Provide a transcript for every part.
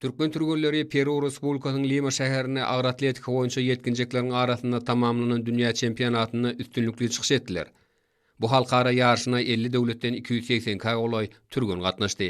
Türkmen türgenleri Peru Respublikasynyň Lima şäherinde agyr atletika boýunça ýetginjekleriň arasynda tamamlanan dünýä çempionatynda üstünlikli çykyş etdiler. Bu halkara ýaryşyna elli döwletden iki ýüz segsen kä golaý türgen gatnaşdy.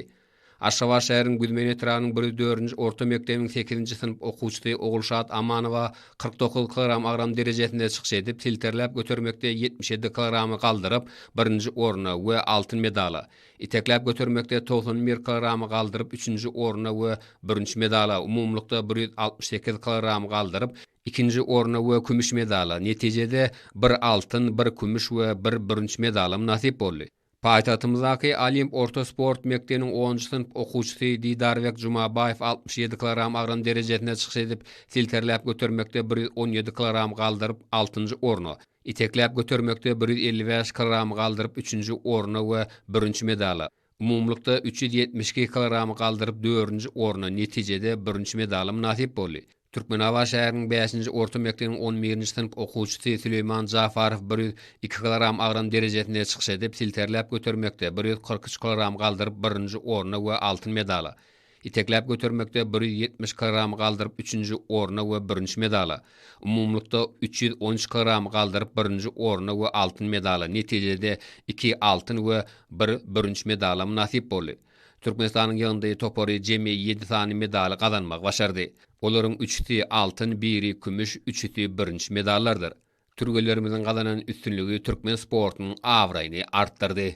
Aşgabat şäheriniň Güzmen etrabynyň bir ýüz dördünji orta mekdebiniň sekizinji synp okuwçysy Ogulşat Amanowa kyrk dokuz kilogram agram derejesinde çykyş edip, silterläp götermekde ýetmiş ýedi kilogramy galdyryp, birinji orna we altyn medala, Itekläp götermekde togsan bir kilogramy galdyryp üçünji orna we bürünç medala, umumylykda bir ýüz altmyş sekiz kilogramy galdyryp ikinji orna we kümüş medala, netijede, bir altyn, bir kümüş we bir bürünç medalam nasyp boldy. Paýtagtymyzdaky Olimp orta sport mekdebiniň onunjy synp okuwçysy Didarbek Jumabaýew altmyş ýedi kilogram agram derejesinde çykyş edip, silterläp götermekde bir ýüz on ýedi kilogram galdyryp altynjy orna, Itekläp götermekde bir ýüz elli bäş kilogramy galdyryp üçünji orna we bürünç medala, umumylykda üç ýüz ýetmiş iki kilogramy galdyryp dördünji orna, netijede bürünç medala mynasyp boldy. Türkmenabat şäheriniň bäşinji orta mekdebiniň on birinji synp okuwçysy Süleýman Jafarow bir ýüz iki kilogram agram derejesinde çykyş edip, silterläp götermekde bir ýüz kyrk üç kilogram galdyryp birinji orna we altyn medala, Itekläp götermekde bir ýüz ýetmiş kilogramy galdyryp üçünji orna we bürünç medala, umumylykda üç ýüz on üç kilogramy galdyryp birinji orna we altyn medala, netijede iki altyn we bir bürünç medala mynasyp boldy. Türkmenistanyň ýygyndy topary jemi ýedi sany medaly gazanmagy başardy. Olaryň üçüsi altyn, biri kümüş, üçüsi bürünç medallardyr. Türgenlerimiziň gazanan üstünligi türkmen sportunyň abraýyny artdyrdy.